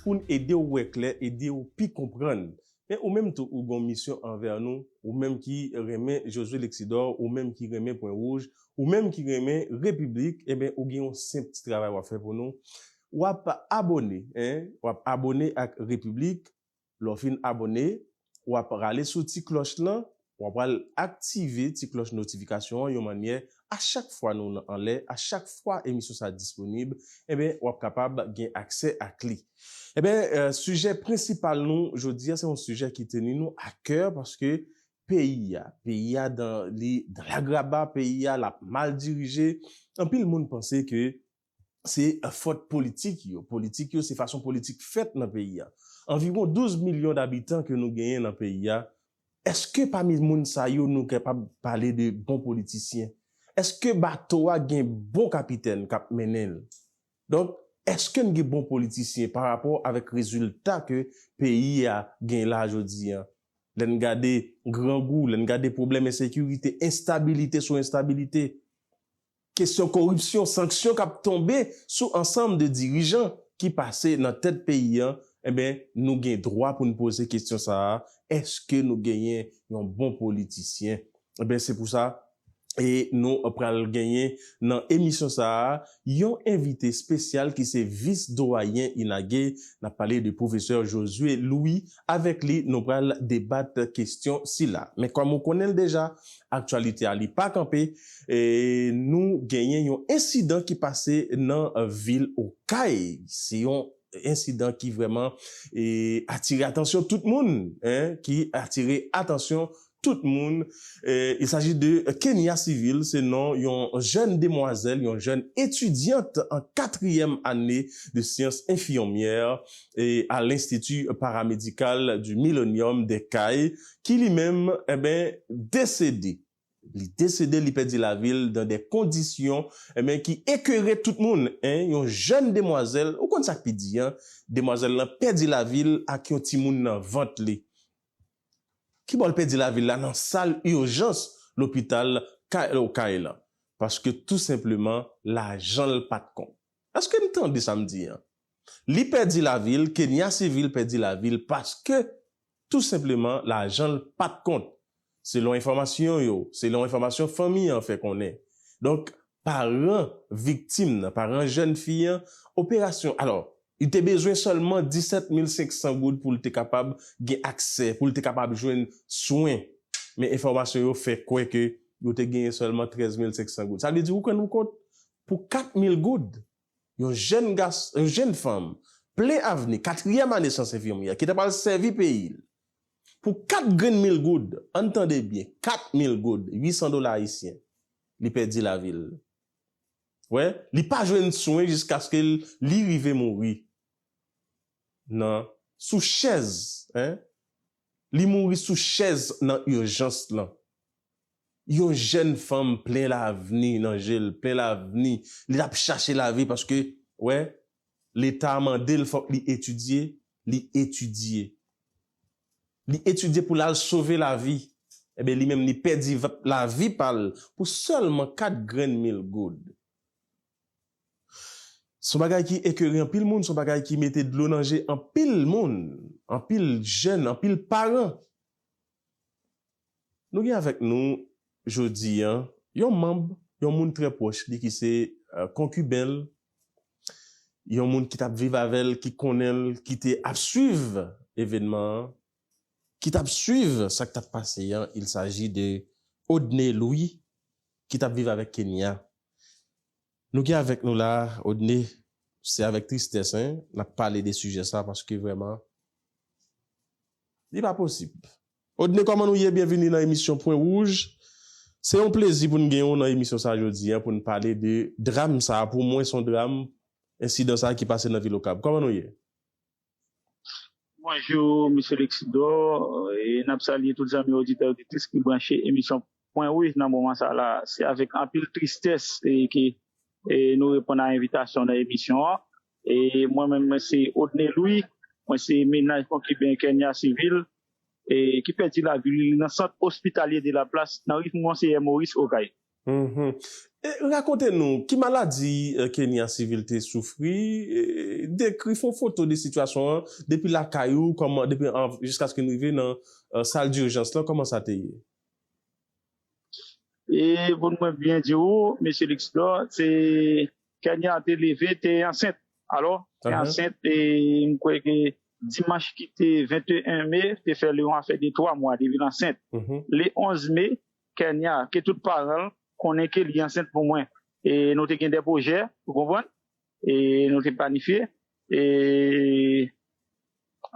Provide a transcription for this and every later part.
Pou n ede w wè klè, ede w pi konprann. Men ou menm tou ou gon misyon anvè nou, ou menm ki renmen Josué Lexidor, ou menm ki renmen Pwen Wouj, ou menm ki renmen Repiblik, enben ou gen yon senp ti travay w ap fè pou nou, w ap abone, en, w ap abone ak Repiblik, lè w fin abone, w ap rale sou ti klòch lan, w ap pral aktive ti klòch notifikasyon an yon mannyè a chak fwa nou nan anlè, a chak fwa emisyon sa disponib, enben w ap kapab gen aksè ak li. Enben, sijè prensipal nou jodi a se yon sijè ki teni nou a kè paske peyi a, peyi a dan li dan lagraba, peyi a l ap mal dirije, anpil moun panse ke se fòt politik yo. Politik yo, se fason politik fèt nan peyi a. Anviwon 12 milyon dabitan ke nou genyen nan peyi a, èske pami moun sa yo nou kapab pale de bon politisyen? Èske bato a gen bon kapitèn k ap mennen l? Donk, èske n gen bon politisyen pa rapò avèk rezilta ke peyi a gen la jodi a? Lè n gade grangou, lè n gade pwoblèm ensekirite, enstabilite sou enstabilite, Kesyon koripsyon, sanksyon kap tonbe sou ansanm de dirijan ki pase nan tèt peyi an, enben nou gen dwa pou n poze kesyon sa a, èske nou genyen yon bon politisyen? Enben se pou sa e nou pral genyen nan emisyon sa a yon envite spesyal ki se vis doyen INAGE, nap pale de pwofesè Josué Louis. Avèk li nou pral debat kestyon sila. Men kòm ou konnen l deja, aktyalite a li pa kanpe, nou genyen yon ensidan ki pase nan vil Okay. Se yon ensidan ki vrèman atire atansyon tout moun, ki atire atansyon Tout moun, Il s'agit de Kenia Civil, se non yon jèn demwazèl, yon jèn etudyant an katriyèm ane de syans enfiyonmyè a l'Institut Paramédical du Millennium des Cayes, ki li menm, enben, desede. Li desede, li pèdi lavi l dan de kondisyon, enben, ki ekere tout moun, en, yon jèn demwazèl, ou konn sa k pi di an, demwazèl lan pèdi lavi l ak yon timoun nan vant li. Kibò l pèdi lavi l la nan sal urjans lopital Kyle Okay lan paske tou senpleman lajan l pat konp. Eske n tande sa m di an? Li pèdi lavi l, Kenia Civil pèdi lavi l paske tou senpleman lajan l pat kont. Selon enfòmasyon yo, selon enfòmasyon fanmi an fè konnen. Donk paran viktim nan, paran jèn fi an, operasyon, alò Li te bezwen sèlman 17 mil 500 goud pou l te kapab gen aksè, pou l te kapab jwenn swen. Men enfòmasyon yo fè kwè ke yo te genyen sèlman 13 mil 500 goud. Sa vle di ou rann ou kont, pou 4 mil goud, yon jèn gas, yon jèn fanm, plen avni, katriyèm ane syans enfimyè, ki ta pral sèvi peyi l, pou 4 grenn mil goud, ann tande byen, 4 mil goud, 800 dola ayisyen, li pèdi lavi l. Wè, li pa jwenn swen jiskaske li rive mouri nan sou chèz en, li mouri sou chèz nan urgence lan. Yon jèn fanm plen lavni nan je l, plen lavni, li ap chache lavi paske, wè, leta mande l fòk li etidye, li etidye. li etidye pou l al sove lavi, enben li menm li pèdi lavi pa l pou sèlman kat grenn mil goud. S on bagay ki ekere anpil moun, s on bagay ki mete dlo nan je anpil moun, anpil jèn, anpil paran. Nou gen avèk nou jodi an yon manb, yon moun trè pwòch li ki se konkiben l, yon moun ki t ap viv avè l, ki konnen l, ki te ap suiv evènman an, ki t ap suiv sa k t ap pase an, il saji de Odne Lwi ki t ap viv avèk Kenya. Nou gen avèk nou la Odne, se avèk tristès n ap pale de sijè sa paske vrèman li pa posib Odne kòman nou ye byenvini nan emisyon pwen wouj se yon plezi pou n gen w nan emisyon sa jodi an pou n pale de dram sa pou mwen son dram ensidan sa ki pase nan vil okap kòman nou ye. Bonjou Misye Lexidor e nap salye tout zanmi oditè oditris ki branche emisyon Pwen wi nan moman sa la se avèk anpil tristès ke nou reponn a envitasyon nan emisyon an e mwen menm mwen se Odney Louis mwen se mennaj konkiben Kernia Civil e ki pèdi lavi li nan sant ospitalye de la plas nan ri Monseyè Maurice Okay. E rakonte nou ki maladi Kernia Civil te soufri e dekri fon foto de sitiyasyon an depi lakay ou kòman depi jiskaske nou rive nan sal durjans lan kòman sa te ye? E pou nou mwen byen di ou, Mesye Luxlor, se Kenya te leve te ansent. Alò, te ansent e m kwè ke dimanch ki te 21 me te fè li yon afè de 3 mwa li vin ansent. Le 11 me, Kenya, ke tout paran l konnen ke li ansent pou mwen. E nou te gen de pwojè, ou konprann? E nou te planifye. E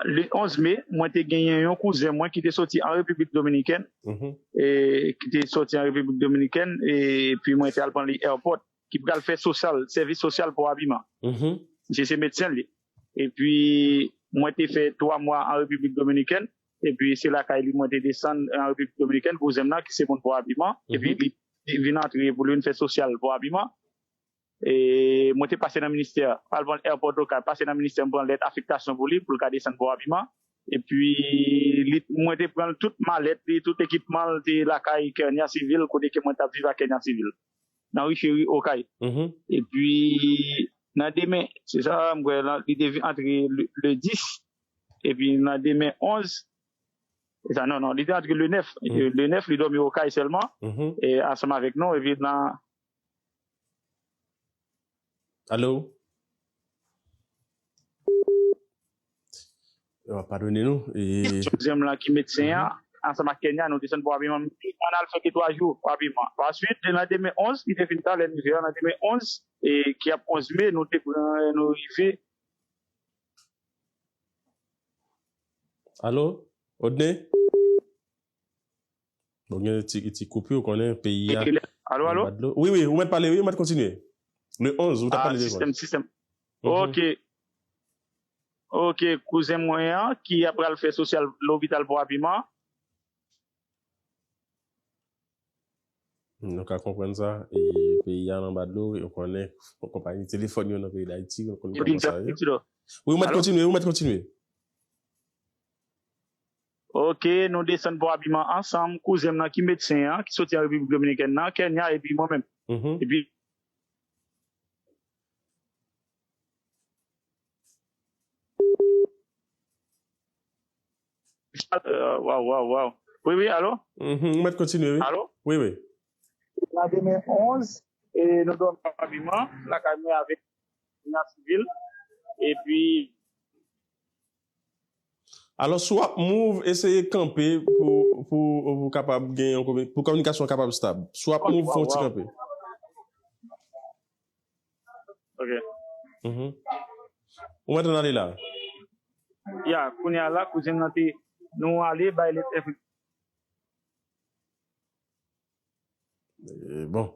le 11 me, mwen te genyen yon kouzen mwen ki te soti an Repiblik Dominikèn, e ki te soti an Repiblik Dominikèn, e pi mwen te al pran li airport, ki pral fè sosyal, sèvis sosyal pou abiman. Misye se medsen li. E pi mwen te fè 3 mwa an Repiblik Dominikèn, e pi se lakay li mwen te desann an Repiblik Dominikèn, kouzen m nan ki se moun pou abiman, e pi li vin antre pou li vin fè sosyal pou abiman. Mwen te pase nan ministè, al pran airport lokal, pase nan ministè m pran lèt afektasyon pou li, pou l ka desann bò abiman. Epi mwen te pran tout malèt li, tout ekipman l te lakay Kernia Civil kote ke mwen t ap viv ak Kernia Civil, nan Ri Cheri, Okay. Epi nan demen, se sa m kwè, li te antre le 10, epi nan demen 11, se sa, non, non, li te antre le 9, le 9 li dòmi Okay sèlman, ansanm avèk nou, epi nan. Allo? Yo pa padone nou. Deuxième lan ki medsen an, ansanm ak Kenya, nou desann pou Abiman. M di, ann al fè ki 3 jou pou Abiman. Pa swit, le landemen 11, li te fin ta, lè n rive a, landemen 11, e ki ap 11 me, nou te pran, nou rive. Allo? Odne? Bon gen ti ti koupi ou konnen peyi a. Alo alo? Wi wi ou mèt pale wi ou mèt kontinye. Le 11 ou tap pale de vòl. Sistèm ok ok kouzen mwen an ki ap pral fè sosyal lopital bwa piman. Nou ka konprann sa e peyi a anba dlo ou konnen konpayi telefòn yo nan peyi dayiti ou konnen kòman sa ye. Wi ou mèt kontinye ou mèt kontinye. Ok nou desann pou abiman ansanm kouzen m nan ki medsen an ki soti an repiblik dominikèn nan Kenya epi mwen menm epi Waw waw waw wi wi alo Ou mèt kontinye wi alo wi wi nan 2011 e nou dòmi pou abiman lakay mwen avèk Kenya sivil epi. Alò si w ap move, eseye kanpe pou ou kapab gen yon, pou kominikasyon an kapab stab. Si w ap move, fè yon ti kanpe. Ok. Ou mèt ann ale la? Ya, kounye a la, kouzen m nan te, nou ale bay lèt enfèm. Bon.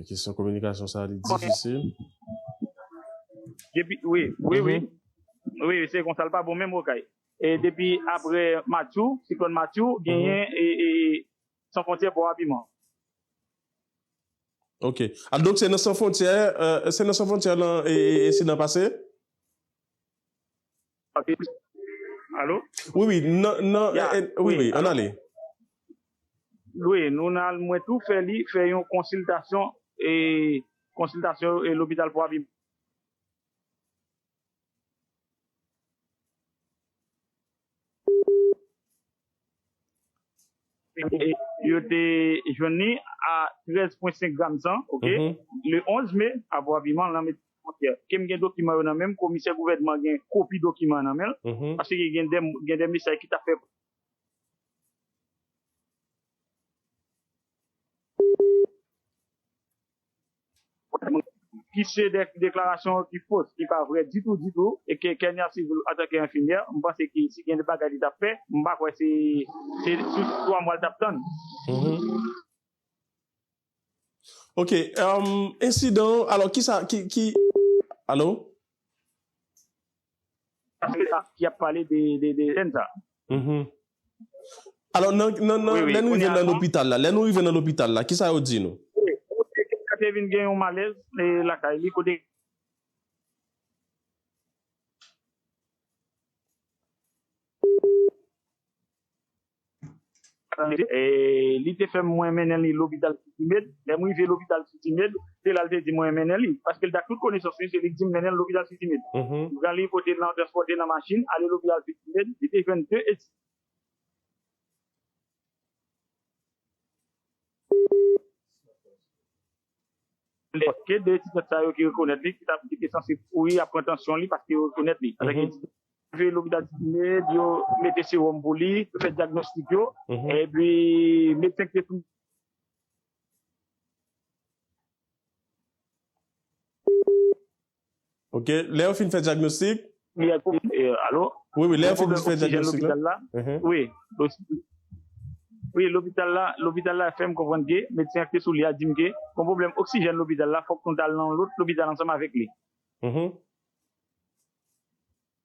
Kesyon kominikasyon sa li difisil. Depi, wi, wi, wi. Wi, se konsa li pa bon menm okay. E depi apre Matthew, siklòn Matthew, genyen San Fontyè bò Abiman. Ok. A donk se nan San Fontyè, se nan San Fontyè ensidan pase? Alo? Wi, wi, an ale. Wi, nou nan al mwen tou fè li, fè yon konsiltasyon, e konsiltasyon e lopital pou avi. Yo te jwenn li a 13.5 gram san, ok, le 11 me, apre aviman l nan Medi San Fwontyè. Kem gen dokiman yo nan menm, komisè gouvènman gen kopi dokiman an nan men l, paske gen de mesaj ki ta fè. ki se de deklarasyon ki fos, ki pa vrè ditou ditou, e ke Kenya Civil antanke enfimyè, m panse ke si gen de bagay li t ap fè, m pa kwè se sou 3 mwa l t ap tann. Ok, ensidan, alò kisa, ki, ki, alo? ki ap pale de jèn sa. Alò nan, nan, nan, lè nou rive nan lopital la, lè nou rive nan lopital la, kisa yo di nou? Yo te vin gen yon malèz lakay li kote. Li te fè m mwen mennen li lopital Siti Med. Lè m rive lopital Siti Med, se la l te di m mwen mennen li. Paske l te ak tout konesans li, se li ki di m mennen l lopital Siti Med. M pran li, pote l nan, transpòte l nan machin, ale lopital Siti Med. Li te jwenn 2 etidyan. Lè ke 2 etidyan sa yo ki rekonèt li, ki ta ki te sanse kouri ap pran tansyon li paske yo rekonèt li. Avèk etidyan rive lopital City-Med, yo mete sewòm pou li, yo fè dyagnostik yo, epi medsen ki te sou. Ok, lè yo fin fè dyagnostik. Li a koum, alo? Wi, wi, lè yo fin fè dyagnostik la. Gen pwoblèm oksijèn lopital la? Uh-huh. Wi, lopital. Wi, lopital la, lopital la fèm konprann ke, medsen an ki te sou li a dim ke, gon pwoblèm oksijèn lopital la, fòk nou tal nan yon lòt lopital ansanm avèk li. Uh-huh.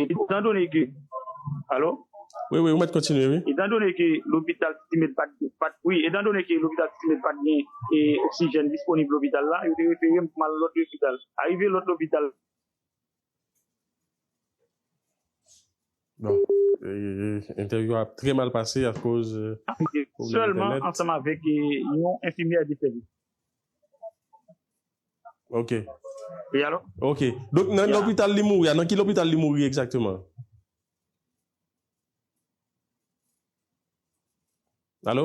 Etan done ke, alo? Wi, wi, ou mèt kontinye, wi. Etan done ke lopital Siti-Med pa t gen, pa t, wi, etan done ke lopital Siti-Med pa t gen oksijèn disponib lopital la, yo te refere m pou m al lòt lopital. Arive lòt lopital. Bon, entèvyou a ap trè mal pase akoz pwoblèm entènèt. Sèlman ansanm avèk yon enfimyè de sèvis. Ok. Wi alo? Ok. Donk nan lopital li mouri a, nan ki lopital li mouri egzakteman? Alo?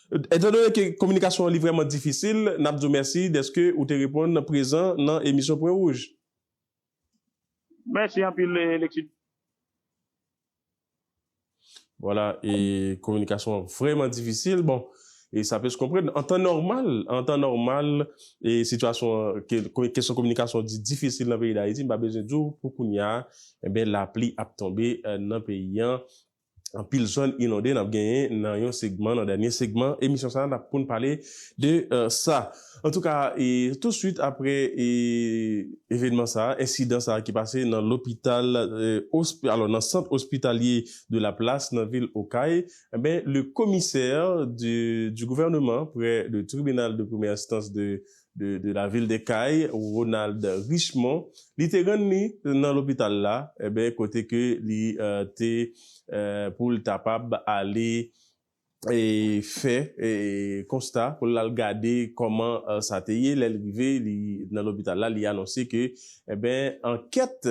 Etan done ke kominikasyon an li vrèman difisil, n ap di w mèsi dèske ou te reponn prezan nan emisyon Pwen Wouj. Mèsi anpil Leksyt. Vwala, e kominikasyon an vrèman difisil. Bon, e sa plis konprann. An tan nòmal, an tan nòmal, e sitiyasyon an, ke kesyon kominikasyon di difisil nan peyi Dayiti, m pa bezwen di w pou kounya, enben lapli ap tonbe nan peyi an. anpil zòn inonde nap genyen nan yon segman nan dènye segman emisyon sa nap poun pale de sa antouka e tou swit aprè e evenman sa ensidan sa ki pase nan lopital osp alò nan sant ospitalye de la plas nan vil okay enben le komisè de du gouvèneman prè le tribinal de premyè enstans de. de la ville de Cayes, Ronald Richemond, li te rann li nan lopital la, enben kote ke li te pou l tapab ale fè konsta, pou l al gade kòman sa te ye, lè l rive li nan lopital la li anonse ke enben ankèt,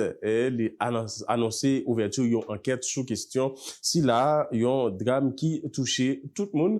li anonse ouvèti yon ankèt sou kestyon sila, yon dram ki touche tout moun.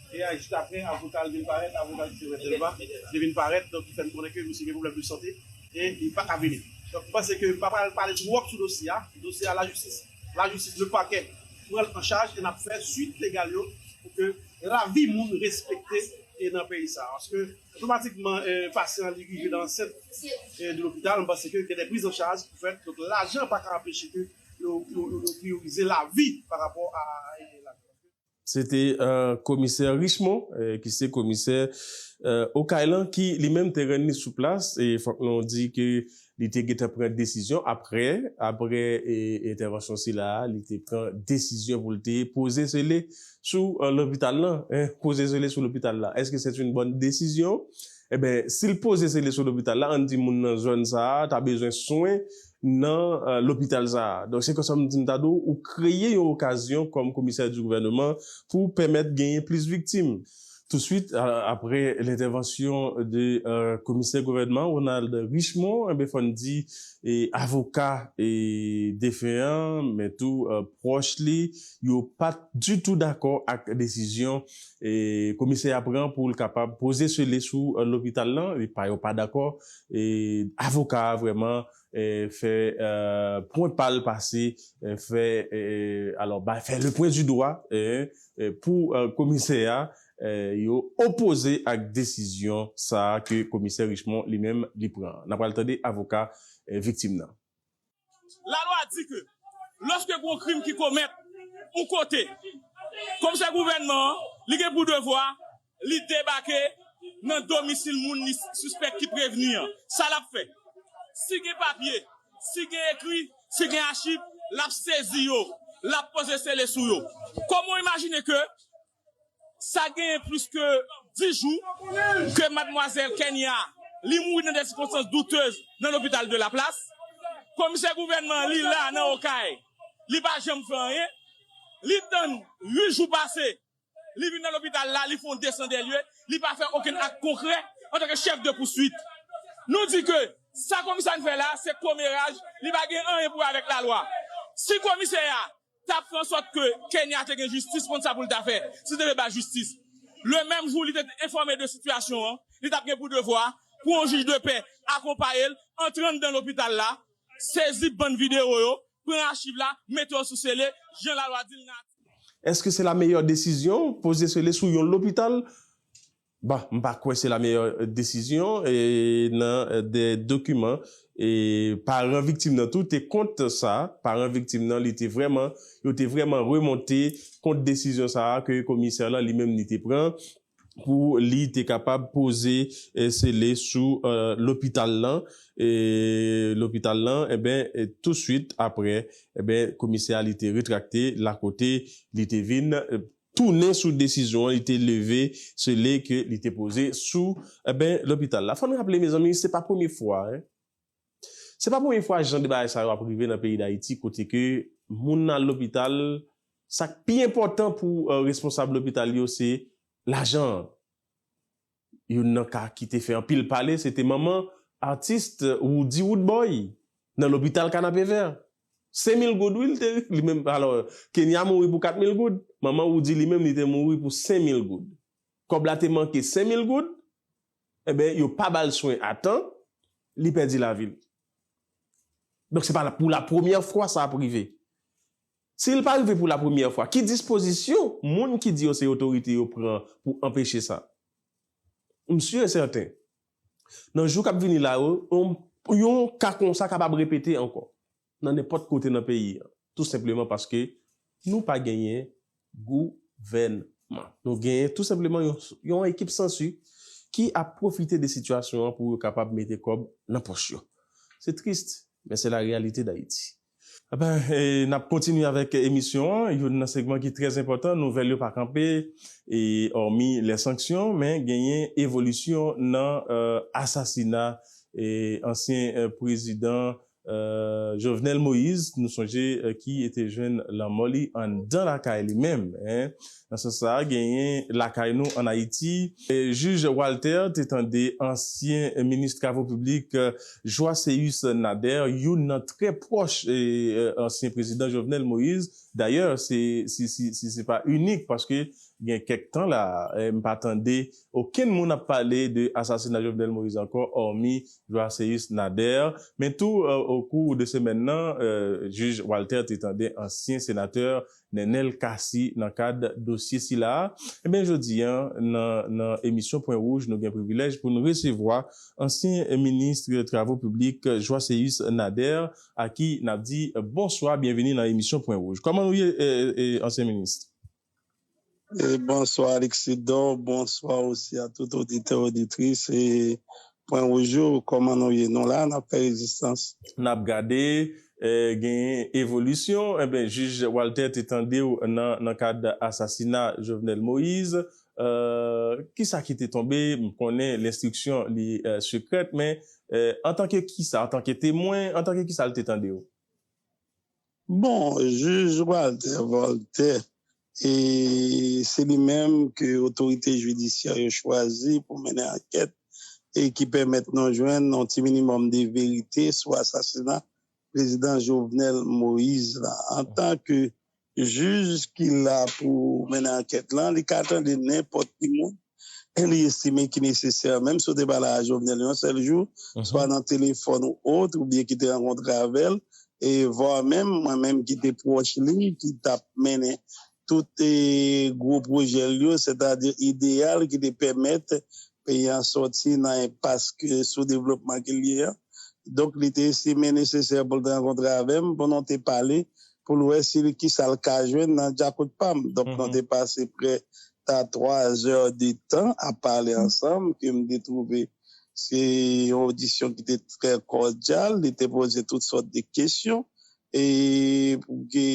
Eya jis aprè avoka l vin parèt, avoka l ki te mèt Delva te vin parèt donk ki fè n konnen ke misye gen pwoblèm de sante e li pa ka vini. Donk m panse ke m pa pral pale twòp sou dosye a, dosye a lajistis, lajistis, lepakè pran l an chaj e n ap fè swit legal yo pou ke lavi moun respekte e nan peyi sa a paske otomatikman pasyan li rive nan ansent e li lopital m panse ke gen de priz an chaj ki fèt donk lajan pa ka anpeche ke yo yo yo priyorize lavi pa rapò a lajan paske. Se te komisè Richemond ki se komisè Okay lan ki li menm te rann li sou plas e fòk nou di ke li te gentan pran desizyon aprè aprè entèvansyon sila a li te pran desizyon pou l te poze zele sou lopital lan poze zele sou lopital la èske sèt yn bòn desizyon? Enben si l poze zele sou lopital la ann di moun nan zòn sa a ta bezwen swen nan lopital sa a. Donk se konsa m di m ta di w ou kreye yon okazyon kòm komisè di gouvèneman pou w pèmèt genyen plis viktim. Touswit aprè lentèvansyon de komisè gouvènman Ronald Richemond enben fò n di avoka defen an men tou pwòch li yo pa t ditou dakò ak desizyon komisè a pran pou l kapab poze sele sou lopital lan. Yo pa dakò avoka a vrèman fè pwen pa l pase fè alò bay fè le pwen di dwa pou komisè a yo opoze ak desizyon sa a ke komisè Richemond li menm li pran an. N apral tande avoka viktim nan. Lalwa di ke lòske g'on krim ki komèt yon kote, komisè gouvènman an, li gen pou devwa li debake nan domisil moun li sispèk ki prevni an. Sa l'ap fè? Si gen papye, si gen ekri, si gen achiv, l'ap sezi yo, l'ap poze sele sou yo. Kòman w imajine ke Sa genyen plis ke 10 jou ke madmwazèl Kenya li mouri nan dè sikonstans doutez nan lopital de la Place. Komisè gouvènman li la nan Okay, li pa janm fè anyen. Li tann 8 jou pase, li vin nan lopital la, li fè yon desan dè lye, li pa fè okenn ak konkrè antan ke chèf de pouswit. Nou di ke sa komisè an fè la se komeraj, li pa gen anyen pou wè avèk lalwa. Si komisè a t ap fè an sòt ke Kenya te gen jistis konn sa pou l ta fè si l te vle bay jistis. Le menm jou li te enfòme de sitiyasyon an, li t ap gen pou devwa pou yon jij de pè akonpaye l antre anndan lopital la, sezi bann videwo yo, pran achiv la, mete yo sou sele, jan lalwa di l nan atik. Èske se la meyè desizyon, poze sele sou yon lopital Bon, m pa kwè se la meyè desizyon nan de dokiman e paran viktim nan tou te kont sa, paran viktim nan li te vrèman, yo te vrèman remonte kont desizyon sa a ke komisè lan li menm li te pran pou li te kapab poze sele sou lopital lan, lopital lan enben tousuit aprè enben komisè a li te retrakte lakote li te vin. tounen sou desizyon li te leve sele ke li te poze sou enben lopital la. Fò n raple mezanmi se pa premye fwa hein. Se pa premye fwa jan de bagay sa yo ap rive nan peyi Dayiti kote ke moun al lopital sa k pi enpòtan pou responsab lopital yo se lajan an. Youn nan ka ki te fè anpil pale se te manman artist Roody Roodboy nan lopital Kanapevè. Senmil goud wi li te li menm alò Kenya mouri pou katmil goud, manman Roody li menm li te mouri pou senmil goud. Kòb la te manke senmil goud, enben yo pa ba l swen a tan, li pèdi lavi l. Donk se pa pou lapremyè fwa sa ap rive. Si l pa rive pou lapremyè fwa, ki dispozisyon moun ki di yo se otorite yo pran pou anpeche sa? M si e sèten, nan jou k ap vini la yo, yon ka konsa kapab repete ankò nan nenpòt kote nan peyi an, tou senpleman paske nou pa genyen gouvènman. Nou genyen tou senpleman yon ekip sansi ki ap pwofite de sitiyasyon an pou yo kapab mete kòb nan pòch yo. Se trist, men se la reyalite Dayiti. Aben, n ap kontinye avèk emisyon an, youn nan segman ki trè enpòtan, nouvèl yo pa kanpe, e òmi lè sanksyon, men genyen evolisyon nan asasina ansyen prezidan Jovenel Moïse, nou sonje ki te jwenn lanmò li anndan lakay li menm, Nan sans sa a, genyen lakay nou ann Ayiti, jij Walter te tande ansyen minis travo piblik Joiséus Nader, youn nan trè pwòch ansyen prezidan Jovenel Moïse. Dayè, si se pa inik, paske gen kèk tan la a, m pa tande okenn moun ap pale de asasina Jovenel Moïse ankò, òmi Joiséus Nader. Men tou, okou de semèn nan, jij Walter te tande ansyen senatè Nenel Cassy nan kad dosye sila a. Enben jodi an nan nan emisyon Pwen Wouj nou gen privilèj pou n resevwa ansyen minis travo piblik Joiséus Nader a ki n ap di bonswa byenvini nan emisyon Pwen Wouj. Kòman nou ye ansyen minis? Bonswa Alexidò, bonswa osi a tout oditè oditris e pwen wouj yo, kòman nou ye? Nou la, n ap fè rezistans. N ap gade, genyen evolisyon. Enben, jij Walter te tande w nan kad asasina Jovenel Moïse. Ki sa ki te tonbe? M konnen lenstriksyon li sekrèt, men antanke ki sa? Antanke temwen? Antanke ki sa li te tande w? Bon, Jij Walter Voltè, e se li menm ke otorite jidisyè yo chwazi pou mennen ankèt e ki pèmèt nou jwenn yon ti minimòm de verite sou asasina Prezidan Jovenel Moïse la. Antan ke Jij ki la pou mennen ankèt lan, li ka tande nenpòt ki moun. e li estime ki nesesè, menm si w te pale a Jovenel yon sèl jou, swa nan telefòn ou ot, oubyen ki te rankontre avè l, e vwa menm mwen menm ki te pwòch li, ki t ap mennen tout gwo pwojè l yo, sètadi ideyal ki te pèmèt peyi an sòti nan enpas soudevlopman ke l ye an. Donk li te estime nesesè pou l te rankontre avè m, pou nou te pale, pou l wè si kisa l ka jwenn nan dyakout pa m. Donk nou te pase prè ta 3 zè de tan ap pale ansanm ke m te twouve se yon odisyon ki te trè kòdyal, li te poze tout sòt de kesyon e pou ke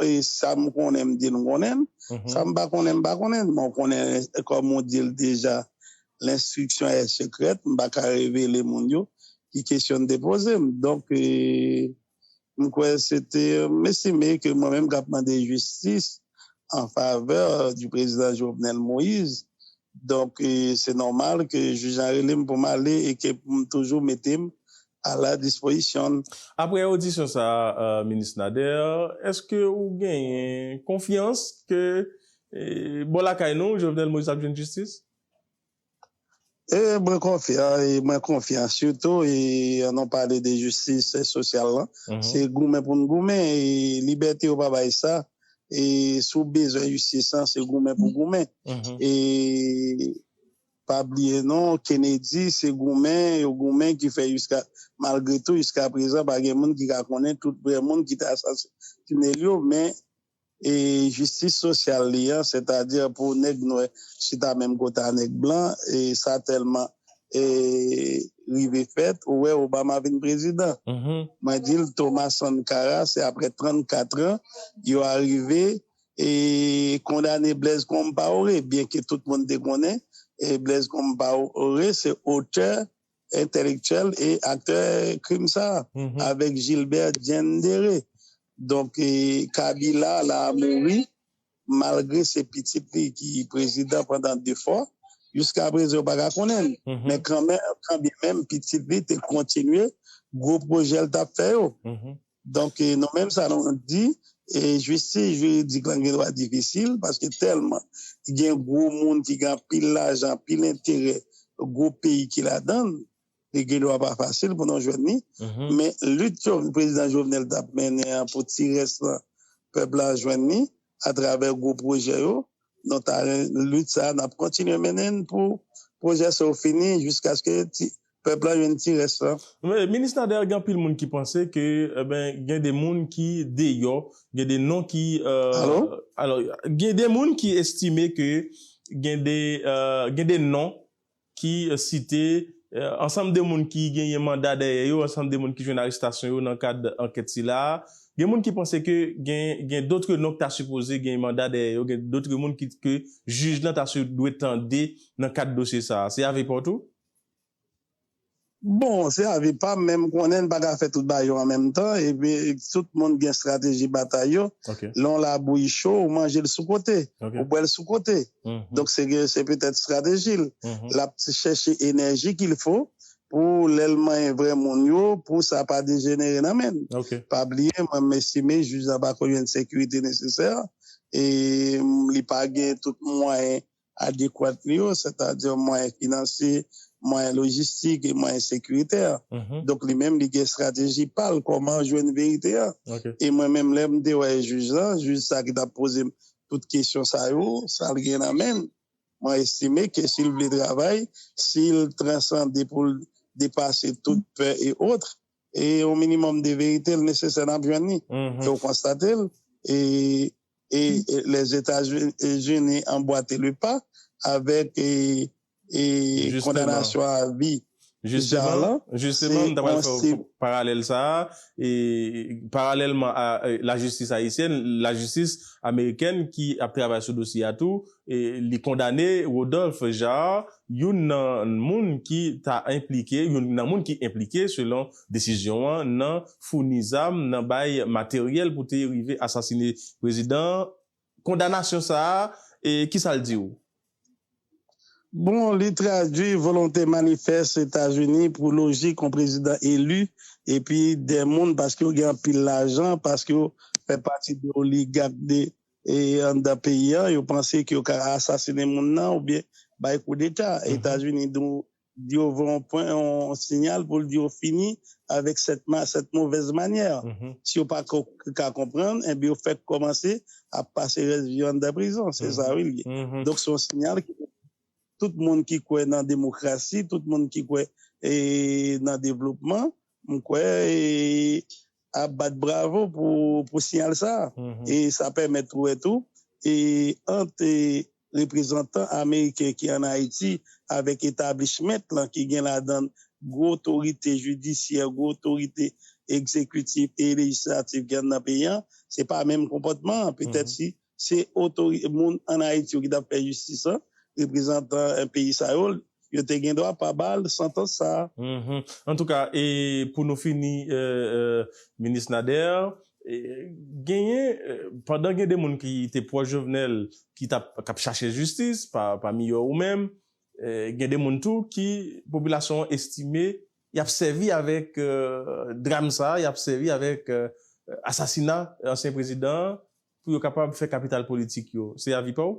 e sa m konnen m di l m konnen l, sa m pa konnen m pa konnen l, men w konnen kòm ou di l deja l'instruction est secrète m pa ka revele moun yo ki kesyon l te poze m donk. M kwè se te m estime ke mwen menm k ap mande jistis an favè di prezidan Jovenel Moïse. Donk se nòmal ke jij la rele m pou m ale e ke pou m toujou mete m a la dispoizisyon l. Aprè odisyon sa a, Minis Nader, èske ou genyen konfyans ke bò lakay nou, Jovenel Moïse ap jwenn jistis? E mwen konfyan, e mwen konfyan sitou e an nou pale de jistis sosyal lan, se goumen pou n goumen e libète yo pa bay sa e si w bezwen jistis lan se goumen pou goumen e pa bliye non Kennedy se goumen yo goumen ki fè jiska malgre tou jiska prezan pa gen moun ki ka konnen tout vrè moun ki te asasine l yo men e jistis sosyal li an, sètadi pou nèg nwè chita menm kote a nèg blan, e sa tèlman rive fèt, ou wè Obama vin prezidan. Mwen di l Thomas Sankara, se aprè 34 an, yo arive e kondane Blaise Compaoré, byenke tout moun te konnen Blaise Compaoré se otè entèlektyèl e aktè krim sa a avèk Gilbert Diendéré. Donk Kabila la mouri malgre se pitit li ki prezidan pandan 2 fwa. Jiska prezan yo pa ka konnen l. Men kanmenm pitit li te kontinye gwo pwojè l t ap fè yo. Donk nou menm sa nou di, jistis jiridik lan gen dwa difisil paske tèlman gen gwo moun ki gen anpil lajan, anpil enterè, gwo peyi ki ladan l, li gen dwa pa fasil pou nou jwenn li. Men lit prezidan Jovenel t ap mennen an pou ti rès lan pèp la jwenn li, atravè gwo pwojè yo nan taren lit sa a n ap kontinye mennen n pou pwojè sa yo fini jiskaske ti pèp la jwenn ti rès lan. Minis Nader gen anpil moun ki panse ke gen de moun ki deyò, gen de non ki gen de moun ki estime ke gen de non ki site ansanm de moun ki genyen manda dèyè yo, ansanm de moun ki jwenn arestasyon yo nan kad ankèt sila a. Gen moun ki panse ke gen dotre non ki ta sipoze gen manda dèyè yo, gen dotre moun ke jij lan ta dwe tande nan kad dosye sa a. Se avè pa w tou? Bon, se avi pam men m konnen n pa ka fè tout bagay yo an menm tan epi tout moun gen estrateji batay yo. Lè yon labouyi cho ou manje l sou kote, ou bwè l sou kote. Donk se ke se petèt estrateji l. L ap chèche enèji ki l fo pou lè l manyen vrè moun yo pou sa pa dejenere nan men l. Pa bliye mwen m estime jij la pa konyen sekirite nesesè e li pa gen tout mwayen adekwat li yo, sètadi mwayen finansye, mwayen lojistik e mwayen sekiritè. Donk li menm li gen estrateji pa l kòman jwenn verite a. E mwen menm lè m te wè jij la, jij sa ki t ap poze m tout kesyon sa yo, sa l gen nan men l, mwen estime ke si l vle travay, si l transande pou l depase tout pè e otre, e yon minimòm de verite l nesesè n ap jwenn li e w konstate l e Lèzetazini anbwate le pa avèk kondanasyon a vi Tichar lan. Jisteman, m ta pral fè paralèl sa a, paralèlman a lajistis ayisyèn, lajistis amerikèn ki ap travay sou dosye a tou, li kondane Rodolphe Jaar Youn nan moun ki ta enplike, youn nan moun ki enplike selon desizyon an nan founi zam, nan bay materyèl pou te rive asasine prezidan an, kondanasyon sa a, ki sa l di ou? Bon, li tradui volonte manifès Etazini pou lojik yon prezidan eli epi de moun paske yo gen anpil lajan, paske yo fè pati de oligak de anndan peyi an, yo panse ke yo ka asasinen moun nan oubyen bay koudeta. Etazini di yo voye yon pwen, yon sinyal pou l di yo fini avèk sèt movèz manyè. Si yo pa ka konprann, enben yo fèk kòmanse ap pase rès vi yo anndan prizon. Se sa wi l ye. Donk se yon sinyal ke tout moun ki kwè nan demokrasi, tout moun ki kwè nan devlopman, M kwè a bat bravo pou siyal sa a. E sa pèmèt ou wè tou ant reprezantan ameriken ki an Ayiti avèk etablishment lan ki gen ladan gwo otorite jidisyè, gwo otorite egzekitif e lejislatif ki anndan peyi an, se pa menm konpòtman an petèt si se otorite moun an Ayiti yo ki tap fè jistis lan, reprezantan peyi sa yo, yo te gen dwa pa ba l santans sa a. Antouka, e pou nou fini Minis Nader, genyen, pandan gen de moun ki te pwòch Jovenel ki tap, kap chache jistis, pami yo ou menm, gen de moun tou ki popilasyon an estime yap sèvi avèk dram sa a, yap sèvi avèk asasina ansyen prezidan an pou yo kapab fè kapital politik yo se avi paw?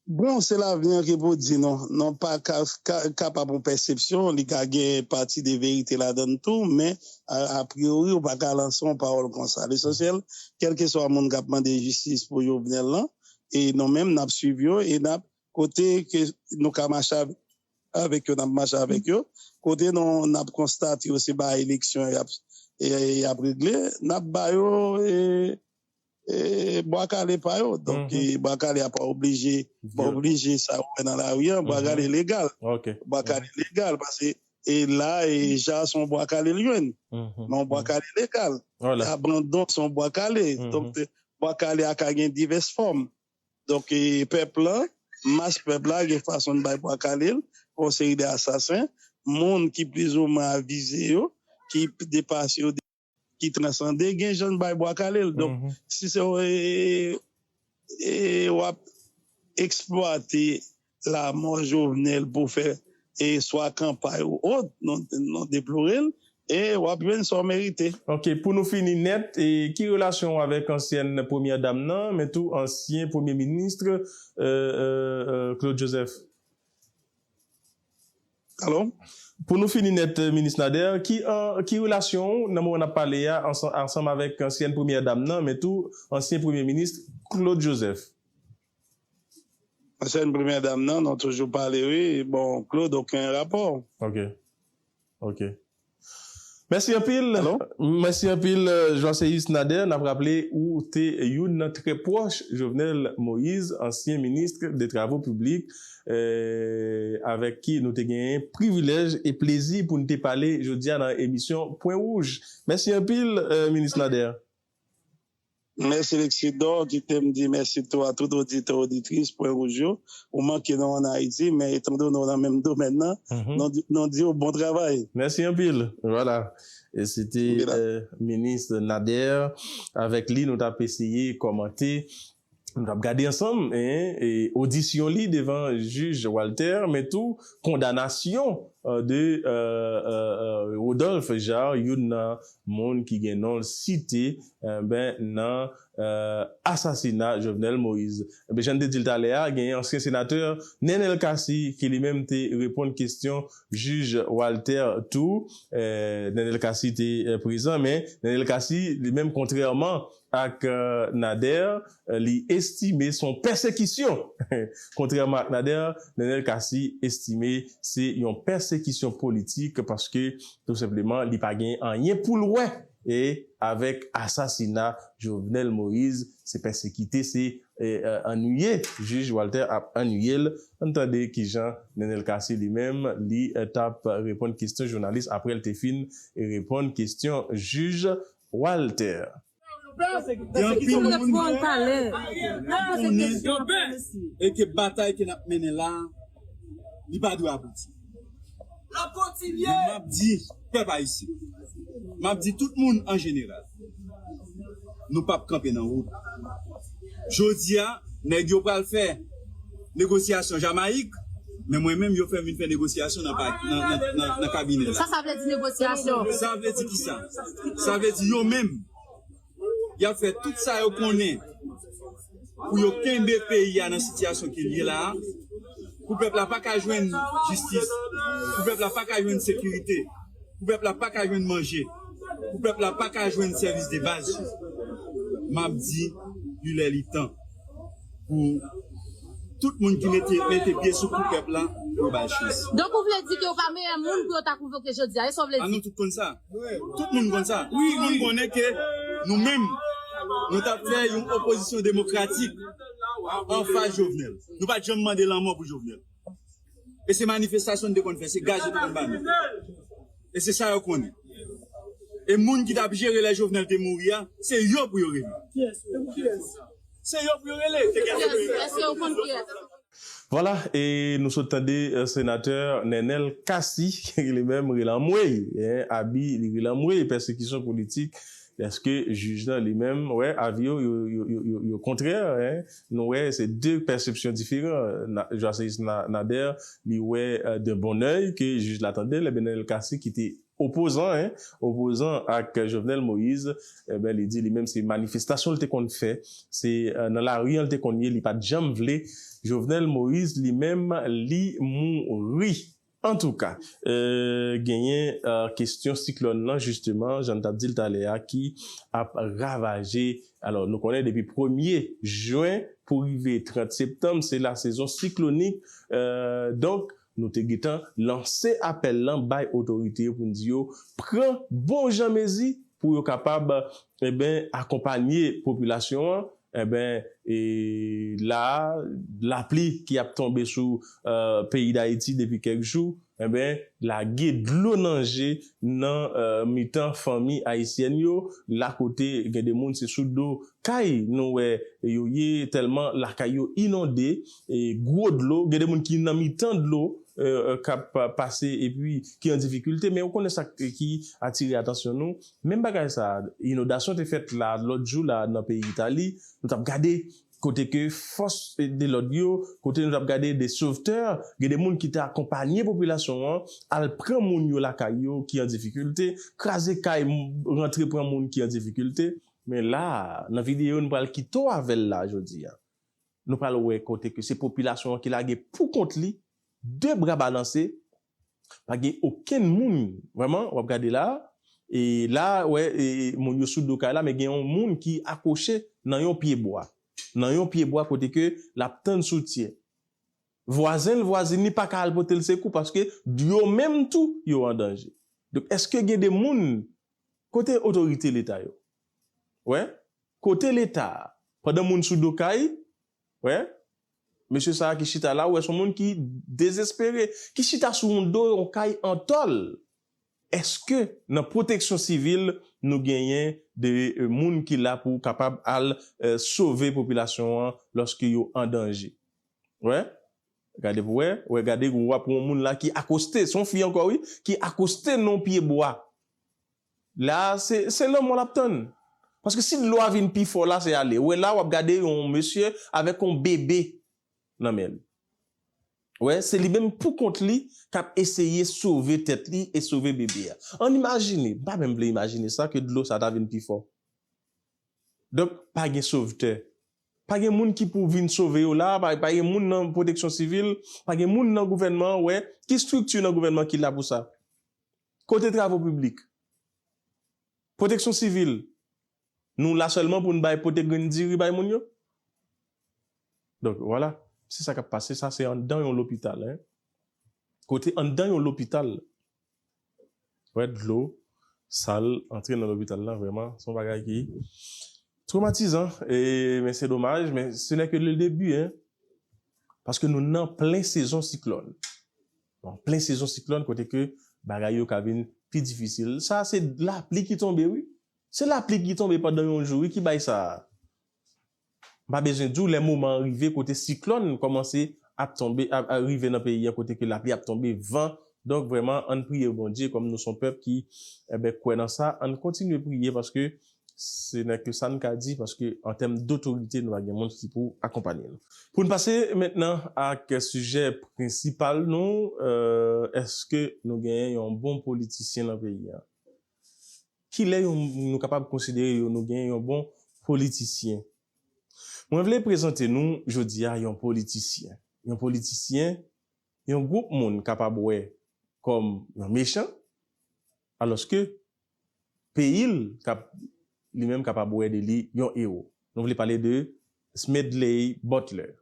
Bon se lavi an ke pou di nou nou pa kapab yon pèsepsyon li ka gen pati de verite ladann tou men apriori ou pa ka lanse yon pawòl konsa lesansyèl kèlkeswa moun kap mande jistis pou Jovenel lan e nou menm nap swiv yo e nap Kote ke nou ka mache avèk yo, n ap mache avèk yo. Kote nou n ap konstate yo se ba eleksyon y ap regle, n ap ba yo bwa kale pa yo. Donk bwa kale a pa oblije pa oblije sa ou wè nan lari an, bwa kale legal. Bwa kale legal pase e la e ja se yon bwa kale l jwenn. Men yon bwa kale legal. Abandon se yon bwa kale. Donk bwa kale a ka gen divès fòm. Donk pèp lan, mas pèp la gen fason n bay pwa kale l pou yon seri de asasen, moun ki plizoumwen avize yo, ki depase yo, ki transande, gen jan n bay bwa kale l. Donk si se w ap eksplwate Lamò Jovenel pou fè e swa kanpay ou ot, nou deplore l e w ap jwenn sa w merite. Ok, pou nou fini nèt, ki relasyon w avèk ansyèn premyè dam nan, men tou ansyen premye ministre Claude Joseph? Alo? Pou nou fini nèt, Minis Nader, ki relasyon w nan moman n ap pale a ansanm avèk ansyèn premyè dam nan, men tou ansyen premye ministre Claude Joseph? Ansyen premyè dam nan nou toujou pale wi bon Claude oken rapò. Ok ok Mèsi anpil Mèsi anpil Joisseus Nader nap raple ou te youn nan trè pwòch Jovenel Moïse ansyen ministre de travaux publics avèk ki nou te genyen privilèj e plezi poun te pale jodia nan emisyon pwen wouj Mèsi anpil Minis Nader. Mèsi Lexidor kite m di mèsi tou a tout oditè oditris Pwen Wouj yo. Ou manke nou an Ayiti men etandone w nan menm domèn nan nou di w bon travay. Mèsi anpil. Vwala e se te Minis Nader. Avèk li nou t ap eseye kòmante Nou tap gade ansanm odisyon li devan jij Walter men tou kondanasyon de Rodolphe Jaar youn nan moun ki gen non l site nan asasina Jovenel Moïse. Ebyen jan n te di l talè a genyen ansyen senatè Nenel Cassy ki li menm te reponn kesyon jij Walter tou. Nenel Cassy te prezan men Nenel Cassy li menm kontrèman Ak Nader, li estime son pèsekisyon. Kontrèman ak Nader, Nenel Cassy estime se yon pèsekisyon politik paske tou senpleman li pa gen anyen pou l wè avèk asasina Jovenel Moïse, se pèsekite, se annuiye Jij Walter ap annuiye l. Ann tande kijan Nenel Cassy li menm li tap reponn kesyon jounalis aprè l te fin reponn kesyon jij Walter. Gen anpil moun ki konnen e ke batay ke nap mennen la a li pa dwe abouti. Men map di pèp ayisyen, map di tout moun an jeneral, nou pap kanpe nan wout. Jodi a nèg yo pral fè. negosyasyon Jamayik, men mwen menm yo fè m vin fè negosyasyon nan kabinè la. Sa sa vle di negosyasyon? Sa vle di ki sa? Sa vle di yo menm y ap fè tout sa yo konnen pou yo kenbe peyi a nan sitiyasyon ke l ye la a, pou pèp la pa ka jwenn jistis, pou pèp la pa ka jwenn sekirite, pou pèp la pa ka jwenn manje, pou pèp la pa ka jwenn sèvis de baz yo. M ap di li lè li tan. pou tout moun ki mete mete pye sou kou pèp la pou yo ba l chans. Donk ou vle di ke ou pa meyè moun pou yo ta konvoke jodi a, e sa ou vle di? A nou tout konn sa. Tout moun konn sa. Tout moun konnen ke nou menm nou t ap fè yon opozisyon demokratik anfas Jovenel. Nou pa t janm mande lanmò pou Jovenel. E se manifestasyon nou te konn fè, se gaz yo te konn ba nou. E se sa yo konnen. E moun ki t ap jere lè Jovenel te mouri a, se yo pou yo rele. Se yo pou yo rele. Èske yo konn kiyès? Vwala, e nou sot tande Senatè Nenel Cassy, li menm rele anmwey, Abi li rele anmwey, pèsekisyon politik Eske jij lan li menm wè avi yo yo kontrè hein nou wè se 2 pèsepsyon diferan Joiseis Nader li wè d'un bon oeil ke jij la tandel ebyen Nenel Cassy ki te opozan hein opozan ak Jovenel Moïse ebyen li di li menm se manifestasyon li te konn fè se nan lari an li te konn ye li pat janm vle Jovenel Moïse li menm li mouri. Antouka, genyen kestyon siklòn lan jisteman, jan n t ap di l talè a, ki ap ravaje. Alò, nou konnen depi premye jen pou rive 30 septanm, se lasezon siklonik. Donk, nou te gentan lanse apèl lan bay otorite yo pou n di yo pran bonjan mezi Pou yo kapab eben akonpanye popilasyon an eben e la a lapli ki ap tonbe sou peyi dayiti depi kèk jou eben lage dlo nan je nan mitan fanmi ayisyèn yo la kote gen de moun se sou do Kay nou wè yo ye tèlman lakay yo inonde gwo dlo gen de moun ki nan mitan dlo kap pase epi ki an difikilte men ou konnen sa ki atire atansyon nou menm bagay sa inodasyon te fèt la lòt jou la nan peyi itali nou tap gade kote ke fòs de lòd yo kote nou tap gade de sovtè gen de moun ki te akonpanye popilasyon an al pran moun yo lakay yo ki an difikilte kraze kay rantre pran moun ki an difikilte Men la, nan videyo nou pral kite w avè l la jodi a, nou pral wè kote ke se popilasyon an ki lage pou kont li, de bra balanse, pa gen okenn moun, vrèman, w ap gade la, e la a, wè, e moun yo sou do kay la, men gen yon moun ki akwoche nan yon pye bwa, nan yon pye bwa kote ke l ap tann soutyen. Vwazen l, vwazin li pa ka al pote l sekou paske yo menm tou yo an danje. Donk eske gen de moun, kote otorite leta yo? Wè, kote leta? Pandan moun sou do kay, wè, mesye sa a ki chita la, ou wè son moun ki dezespere, ki chita sou yon do yon kay an tòl. Eske nan pwoteksyon sivil nou genyen de moun ki la pou kapab al sove popilasyon an lòske yo an danje? Wè Gade pou wè Wè gade gou wap won moun la ki akoste son fi ankò wi ki akoste non pye bwa la se se lanmò lap tann paske si dlo a vin pi fò la se ale wè la wap gade yon mesye avèk yon bebe nan menl wè se li menm pou kont li kap eseye sove tèt li e sove bebe a ann imajine m pa menm vle imajine sa ke dlo sa ta vin pi fò donk pa gen sovtè. Pa gen moun ki pou vin sove yo la, pa gen moun nan pwoteksyon sivil, pa gen moun nan gouvènman an wè, ki strikti nan gouvènman an ki la pou sa? Kote travo piblik? Pwoteksyon sivil? Nou la sèlman pou n bay pote grenn diri bay moun yo? Donk vwala, se sa k ap pase, sa se anndan yon lopital, kote anndan yon lopital. wè dlo sal antre nan lopital la vrèman se yon bagay ki twomatizan men se domaj men se nè ke le debi paske nou nan plen sezon siklòn nan plen sezon siklòn kote ke bagay yo ka vin pi difisil sa se lapli ki tonbe wi se lapli ki tonbe pandan yon jou wi ki bay sa M pa bezwen di w lè moman an rive kote siklòn kòmanse ap tonbe ap rive nan peyi an kote ke lapli ap tonbe, van, donk vrèman ann priye Bondye kòm nou s on pèp ki enben kwè nan sa ann kontinye priye paske se nè ke sa n ka di paske an tèm dotorite nou pa gen moun ki pou akonpanye nou. Pou n pase mentnan ak sijè prensipal nou, èske nou genyen yon bon politisyen nan peyi an? Kilè yon moun nou kapab konsidere yo nou gen yon bon politisyen? Mwen vle prezante nou jodi a yon politisyen. Yon politisyen yon gwoup moun kapab wè kòm yon mechan alòske peyi l kap li menm kapab wè de li yon ewo. Nou vle pale de Smedley Butler.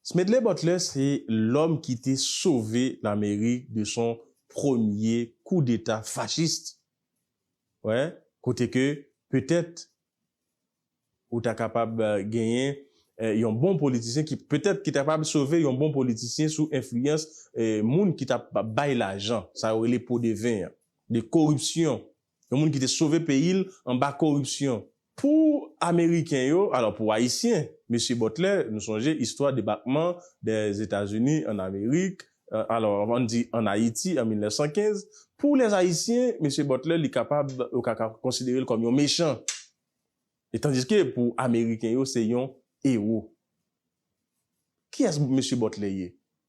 Smedley Butler se lòm ki te sove Lamerik de son premye kou deta fachist. Wè, kote ke petèt ou ta kapab genyen yon bon politisyen ki, petèt ki ta kapab sove yon bon politisyen sou enfliyans moun ki t ap bay lajan, sa yo rele po de ven an, de koripsyon. Yon moun ki te sove peyi l anba koripsyon. Pou Ameriken yo, alò pou Ayisyen, Mesye Butler, nou sonje istwa debakman Dèzetazini ann Amerik, alò ann di ann Ayiti an 1915, pou Lèzayisyen, Mesye Butler li kapab, yo ka konsidere l kòm yon mechan. E tandiske pou Ameriken yo se yon ewo. Kiyès Mesye Butler ye?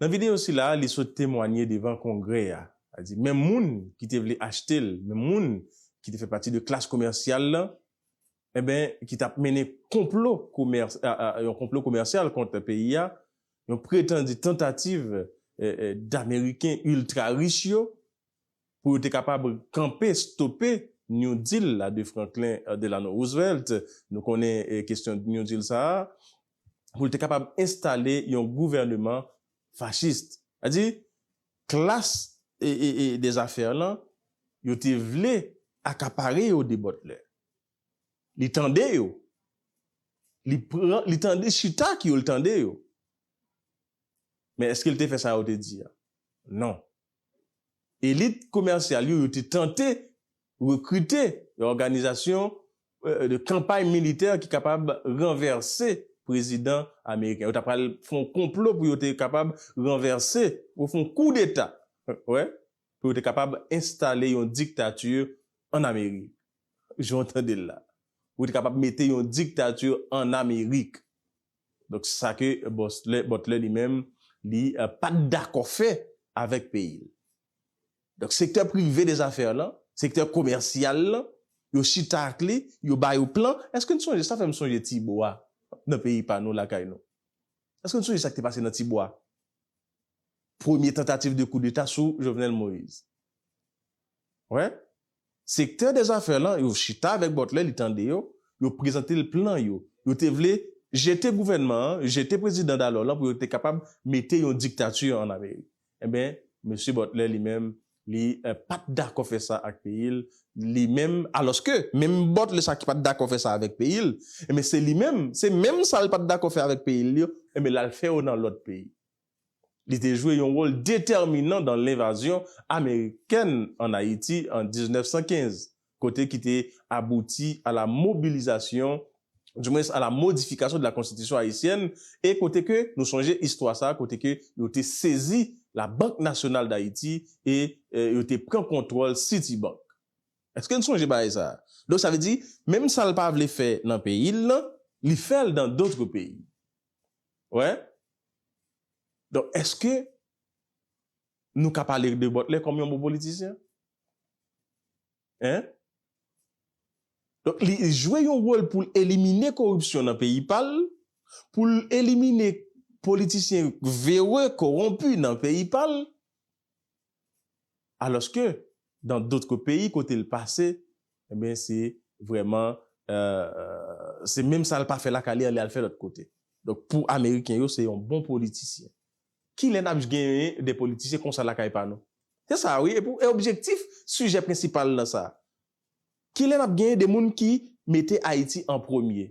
Nan videyo sila, li sot temwanye devan Kongrè a. Sa di, menm moun ki te vle achte l, menm moun ki te fè pati de klas komèsyal lan, enben, ki t ap mennen konplo komès, yon konplo komèsyal kont peyi a, yon pretandi tantativ d'Ameriken iltra rich yo, pou yo te kapab kanpe, stope New Deal la de Franklin Delano Roosevelt. Nou konnen kestyon New Deal sa a. pou l te kapab enstale yon gouvèneman fachis. A di, klas des affaires lan, yo te vle akapare yo de Butler. Li tande yo. Li pran, li tande, li chita ak yo, li tande yo. Men èske l te fè sa yo te di a? Non. Elit komèsyal yo, yo te tante rekrite yon òganizasyon de kanpay militè ki kapab ranvèse prezidan ameriken. Yo ta pral fè yon konplo pou yo te kapab ranvèse, pou yo fè yon koudeta, wè, pou yo te kapab enstale yon diktati an Amerik. Jan w tande l la. Pou yo te kapab mete yon diktati an Amerik. Donk se sa ke Butler li menm li pat dakò fè avèk peyi l. Donk sektè prive de zafè lan, sektè komèsyal lan, yo chita ak li, yo ba yo plan. Èske n sonje, sa fè m sonje ti bo a nan peyi pa nou lakay nou. Èske n sonje sa k te pase nan ti bo a? Premye tantativ de koudeta sou Jovenel Moïse. Wè, sektè dè zafè lan yo chita avèk Butler, li tande yo, yo prezante l plan yo. Yo te vle jete gouvènman an, jete prezidan dalò lan pou yo te kapab mete yon diktati an Amerik. Enben, mesye Butler li menm, li pa t dakò fè sa ak peyi l, li menm, alòske, menm Butler sa ki pa t dakò fè sa avèk peyi l, enben se li menm, se menm sa l pa t dakò fè avèk peyi l yo, enben l al fè yo nan lòt peyi. Li te jwe yon wòl detèminan dan lenvazyon amerikèn an Ayiti an 1915, kote ki te abouti a la mobilizasyon, di mwens a la modifikasyon de la Konstitisyon ayisyèn, e kote ke nou sonje istwa sa a kote ke yo te sezi la Bank Nasyonal Dayiti e yo te pran kontwòl Citibank. Eske n sonje bagay sa a? Donk sa vle di, menm sa l pa vle fè nan peyi l lan, li fè l dan dotre peyi. Wè? Donk, èske nou ka pale de Butler kòm yon bon politisyen? Hein? Donk, li jwe yon wòl pou l elimine koripsyon nan peyi pa l, pou l elimine politisyen vereux, koronpi nan peyi pa l. Alòske dan dotre peyi kote l pase enben se vrèman se menm sa l pa fè lakay li an li al fè lòt kote. Donk pou ameriken yo se yon bon politisyen. Kilè n ap genyen de politisyen konsa lakay pa nou? Se sa wi e objektif sijè prensipal nan sa. Kilè n ap genyen de moun ki mete Ayiti an premye?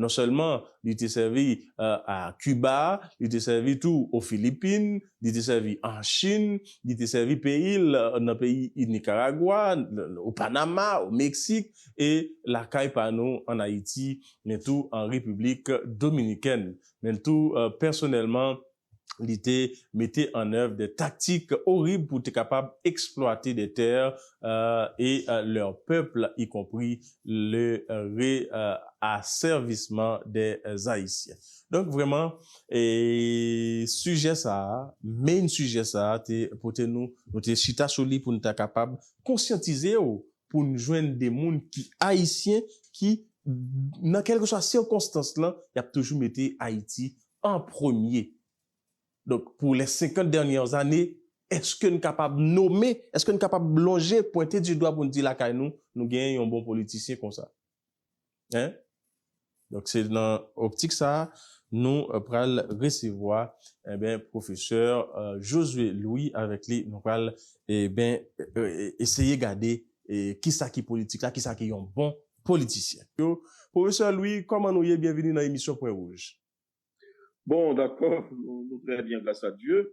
Non sèlman li te sèvi a Kiba, li te sèvi tou o Filipin, li te sèvi an Chin, li te sèvi peyi l nan peyi Nikaragwa, o Panama, o Meksik e lakay pa nou an Ayiti, men tou an Repiblik Dominikèn. Men tou pèsonèlman li te mete an èv dè taktik orib pou te kapab eksplwate dè tè e lèr pèpl y konpri le re asèvisman dè Ayisyen. Donk vrèman e sijè sa a, main sijè sa a te pote nou, nou te chita sou li pou n ta kapab konsyantize w pou n jwenn de moun ki Ayisyen ki nan kèlkeswa sikonstans lan y ap toujou mete Ayiti an premye. Donk, pou les 50 dernières années, eske n kapab nome, eske n kapab lonje, pwente du dwa pou n di lakay nou, nou genyen yon bon politisyen konsa? Hein? Donk, se nan optik sa a, nou pral resevwa, enben, pwofesè Josué Louis, avèk li nou pral, enben, eseye gade kisa ki politik la, kisa ki yon bon politisyen. Yo, Pwofesè Lwi, kòman nou ye? Byenvini nan emisyon Pwen Wouj. Bon, dakò, nou trè byen gras a Dye.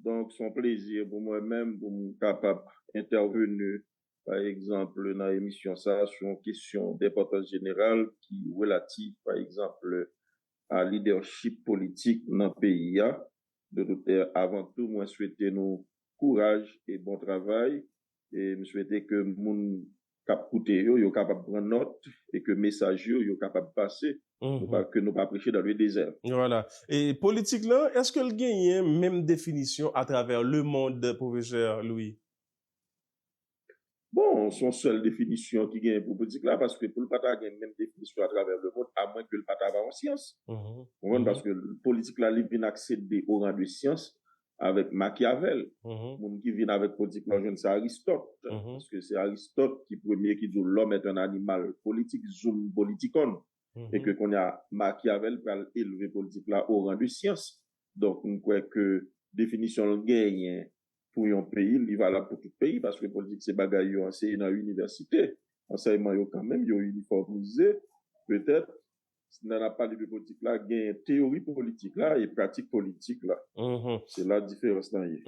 Donk, son plezi pou mwen menm pou m kapab entèveni, pa egzanp, nan emisyon sa a sou yon kesyon denpòtans jeneral ki relatif, pa egzanp, a lidèchip politik nan peyi a. Dodoktè, avan tou, mwen swete nou kouraj e bon travay. E m swete ke moun k ap koute yo, yo kapab pran nòt e ke mesaj yo, yo kapab pase, ke nou pa preche dans le désert. Vwala. E politik lan, èske l genyen menm definisyon atravè lemond, pwofesè Louis? Bon, s on sèl definisyon ki genyen pou politik la, paske pou l pa ta gen menm definisyon atravè lemond, amwen ke l pa ta va an syans. Ou konprann? Paske politik la li vin aksede o ran de syans, avèk Makyavèl, moun ki vin avèk politik la ou jwenn se Aristòt, paske se Aristòt ki premye ki di w l'homme est un animal politik, zoom politikon, e ke kounye a Makyavèl pral elve politik la o ran de syans. Donk m kwè ke definisyon l genyen pou yon peyi, li valab pou tout peyi, paske politik se bagay yo anseye nan inivèsite, ansèyman yo kanmenm yo inifòmize, petèt nan ap pale de politik la gen teyori politik la e pratik politik la. Se la diferans lan ye.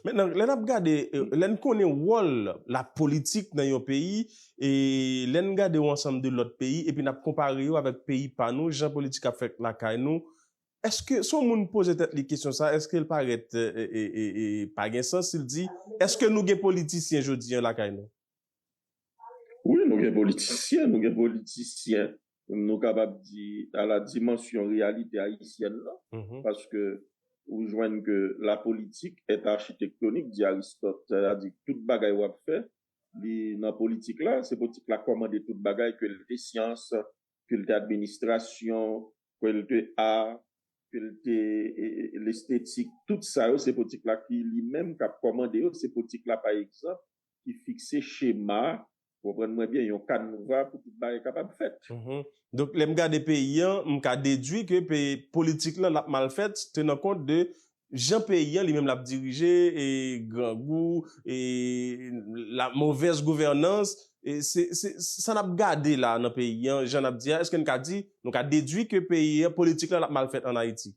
Mentnan lè nap gade, lè n konnen wòl la politik nan yon peyi, e lè n gade yon ansanm de lòt peyi epi nap konpare yo avèk peyi pa nou, jan politik ap fèt lakay nou, èske si yon moun poze tèt li kesyon sa, èske l parèt pa gen sans si l di, èske nou gen politisyen jodi an lakay nou? Wi nou gen politisyen, nou gen politisyen nou kapab di a la dimansyon reyalite ayisyèn lan paske ou jwenn ke la politik est architektonik di Aristot sa vle di tout bagay wap fè li nan politik la, se politik la kòmande tout bagay ke li te syans, ke li te administrasyon, ke l te art, ke l te l'esthétique, tout sa yo se politik la ki li menm k ap kòmande yo, se politik la pa egzanp ki fikse chema, konprann mwen byen, yon kanva pou tout bagay kapab fèt. Donk lè m gade peyi an, m ka dedwi ke politik lan l ap mal fèt, tenan kont de Jan peyi an li menm lap dirije e grangou e la movèz gouvènans e se se sa nap gade la nan peyi an jan nap di a eske n ka di nou ka dedwi ke peyi an politik la lap mal fèt an ayiti.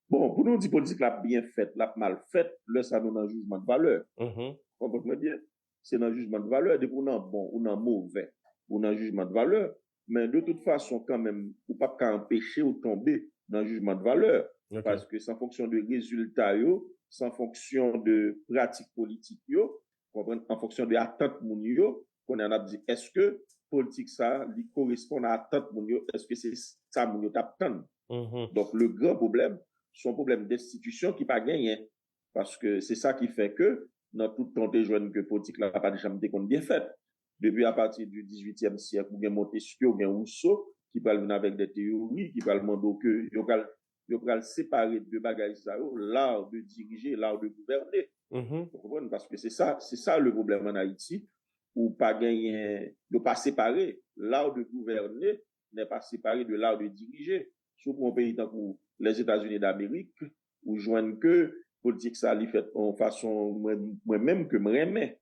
Bon pou nou di politik la ap byen fèt lap mal fèt lè sa nou nan jijman de valè konprann mwen byen se nan jijman de valè depi w nan bon ou nan movè ou nan jijman de valè men de tout fason kanmenm ou pap ka anpechew tonbe nan jijman dvalè paske san fonksyon de rezilta yo, san fonksyon de pratik politik yo, konprann an fonksyon de atant moun yo, kounye a nap di eske poltik sa li koresponn a atant moun yo eske se sa moun yo tap tann donk le gran pwoblèm son pwoblèm destitisyon ki pa genyen paske se sa ki fè ke nan tout tan ou te jwenn ke politik la pat janm te konn byen fèt Depi apati di dizuityèm syèk ou gen Montesquieu, ou gen Rousseau ki pral vin avèk dè teyori ki pral mande w ke yo pral yo pral separe de bagay sa yo, l'art de diriger et l'art de gouverner. Ou konprann? Paske se sa se sa le pwoblèm an Ayiti ou pa genyen yo pa separe. L'art de gouverner n'est pas séparé de l'art de diriger. Si w pran yon peyi tankou Lèzetazini Damerik, ou jwenn ke politik sa li fèt yon fason mwen menm ke m renmen.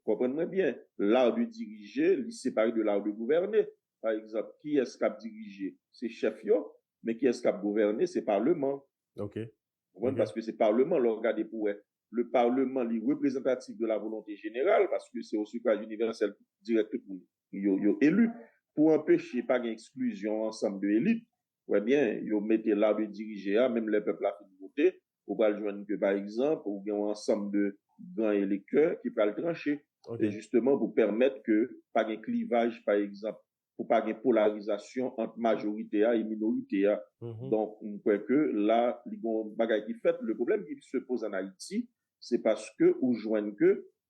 Konprann mwen byen. L'art de diriger li separe de l'art de gouverner. Pa egzanp, kiyès k ap dirije? Se chèf yo. Men kiyès k ap gouvène? Se paleman. Ou konprann? Paske se paleman lè w gade pou wè. Le parlement li reprezantatif de la volonte jeneral paske se o sufraj inivèsèl dirèk tout moun yo elu pou anpeche pa gen eksklizyon ansanm de elit wè byen yo mete la de dirije a menm lè pèp la fin vote ou pral jwenn ke pa egzanp ou gen yon ansanm de gran elektè ki pral tranche e jisteman pou pèmèt ke pa gen klivaj pa egzanp pou pa gen polarizasyon ant majorite a e minorite a donk m kwè ke la li gen yon bagay ki fèt le pwoblèm ki se poze an ayiti se paske ou jwenn ke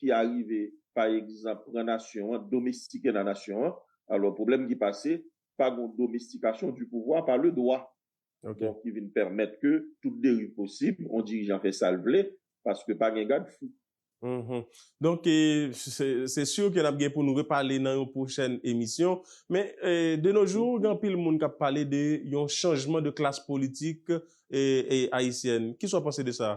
ki arive pa egzanp pran nasyon an, domestike nan nasyon an, alò pwoblèm ki pase, pa gon domestikasyon di pouvwa pa le dwa. Donk ki vin pèmèt ke tout deriv posib, on dirijan fè sa l vle, paske pa gen gad fou. Donk se sur ke nap gen pou nou repale nan yon pwochèn emisyon. Men de no jou gen anpil moun kap pale de yon chanjman de klas politik ayisyèn. Kisa w panse de sa?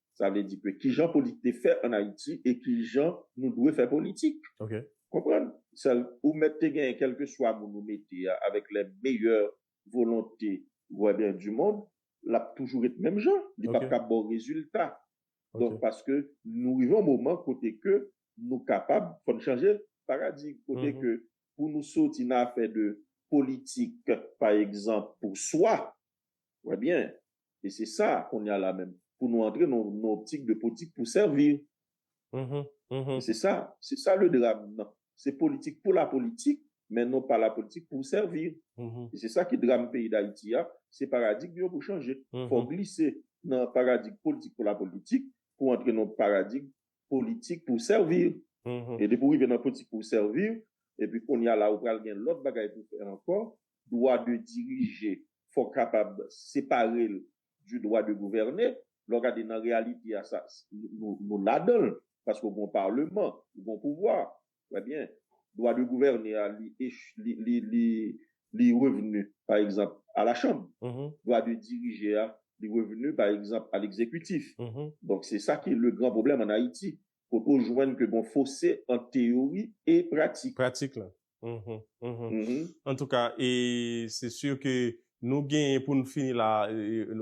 Sa vle di ke ki jan politik te fè an Ayiti e ki jan nou dwe fè politik. Ok. Konprann? Sèl, ou mèt te genyen kèlkeswa moun ou mete a, avèk lè meyè volonte vwèbyen di mond, l ap toujou ret menm jan. Li p ap ka ba w rezilta. Donk, paske nou rive yon moman kote ke nou kapab, fò n chanje paradig. Kote ke pou nou soti nan afè de politik, pa egzanp, pou swa, wè byen, e se sa kounye a la menm pou nou antre nan yon optik de politik pou sèvi e se sa se sa le dram nan se politik pou la politik men non pa la politik pou sèvi e se sa ki dram peyi dayiti a se paradig yo pou chanje fò glise nan paradig politik pou la politik pou antre nan paradig politik pou servir e depi ou rive nan politik pou servir epi kounya la ou pral gen lòt bagay pou fè ankò dwa de dirije fò kapab separel di dwa de gouvène lè w gade nan reyalite a sa nou ladanl paske ou gon parleman ou gon pouvwa Trè byen. Dwa de gouvène a li li revenu pa egzanp a la chanm. Dwa de dirije a li revenu pa egzanp a legzekitif. Donk se sa ki le gran pwoblèm an Ayiti. Kote ou jwenn ke gon fose ant teyori e pratik. Pratik la. Antouka e se sur ke nou genyen pou nou fini la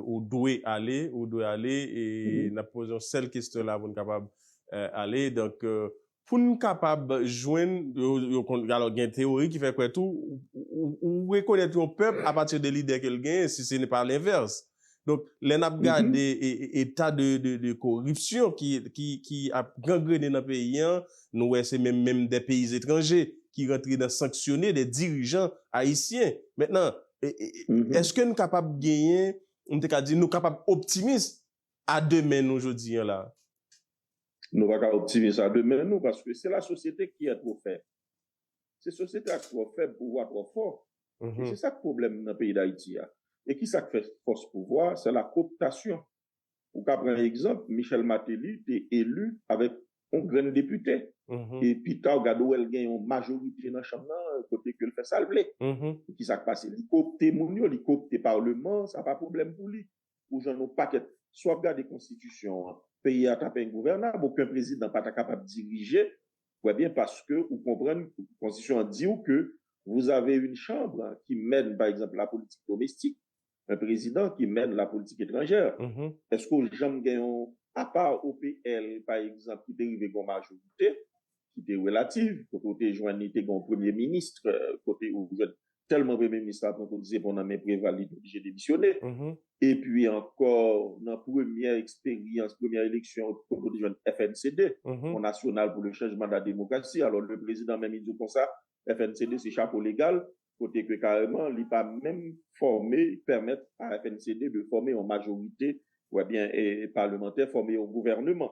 ou dwe ale ou dwe ale e n ap poze yon sèl kestyon la pou n kapab ale. Donk Pou n kapab jwenn, alò gen teyori ki fè kwè tou, ou rekonèt yon pèp apati de lidè ke l genyen, si se n pa lenvès. Donk, lè n ap gade eta de koripsyon ki ap gangrene nan peyi an, nou wè se menm menm de peyi etranje ki rantre nan sanksyone de dirijan ayisyen. Mentnan, eske n kapab genyen, m te ka di nou kapab optimis a demen nou jodi an la? Nou pa ka optimis a demen nou paske se la sosyete ki entwofè. Se sosyete a ki twò fèb, pouvwa twò fò. E se sa k pwoblèm nan peyi Dayiti a. E ki sa k fè fòs pouvwa a? Se la kooptasyon. Ou ka pran egzanp, Michel Martelly te eli avèk yon grenn depite. E pi ta ou gade ou wè l gen yon majorite nan chanm nan kote ke l fè sa l vle. Ki sa k pase? Li koopte moun yo, li koopte Parleman an, sa pa pwoblèm pou li. pou jan nou pakèt si wap gade konstitisyon an peyi a tap engouvènab oken prezidan pata kapab dirije wè byen paske ou konprann konstitisyon an diw ke vous avez une chambre ki mèn pa egzanp la politik domestik un prezidan ki mèn la politik etranjè eske ou janm gen yon apa OPL pa egzanp ki te rive gen yon majorite ki te relativ, kote ou te jwenn li te gen yon premye minis, kote ou jwenn tèlman premye minis la pran kout zepon nan men Preval li te oblije demisyone. Epi ankò nan premyè eksperyans, premyè eleksyon kote ou te jwenn FNCD, Fon Nasyonal pou le Chanjman de la Demokrasi, alò le prezidan menm li di w konsa FNCD se chapo legal, kote ke kareman li pa menm fòme, pèmèt a FNCD de fòme yon majorite, ou byen palemantè fòme yon gouvèneman.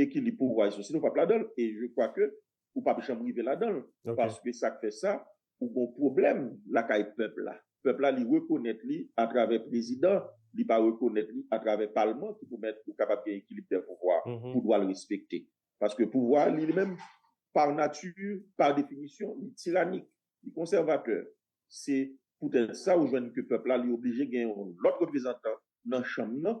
ekilib pouvwa iso sinon ou pap ladanl e je kwa ke ou pap janm rive ladanl paske sak fè sa ou gon pwoblèm lakay pèp la pèp la li rekonèt li atravè prezidan li pa rekonèt li atravè palman ki pou mèt ou kapab gen ekilib dè pouvwa pou dwal respekte paske pouvwa li li menm pa nati pa definisyon li tiranik li konsèvatè se poutèt sa ou jwenn ke pèp la li oblije gen yon lòt reprezantan nan chanm nan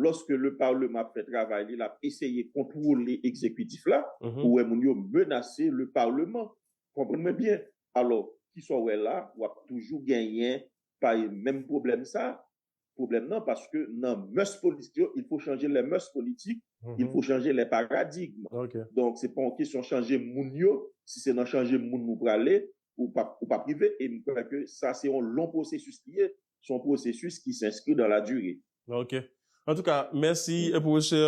lòske le parleman ap fè travay li lap eseye kontwole ekzekitif la ou wè moun yo menase le parleman konprann mwen byen alò kisa w wè la wap toujou genyen pae menm pwoblèm sa pwoblèm nan paske nan mès politik yo il fo chanje lè mès politik il fo chanje lè paradigm donk se pa yon kesyon chanje moun yo si se nan chanje moun ou prale ou pap rive e m kwè ke sa se yon lon pwosesis li ye son pwosesis ki s'enskri dan la dire. Ok. An tou ka, mèsi pwofesè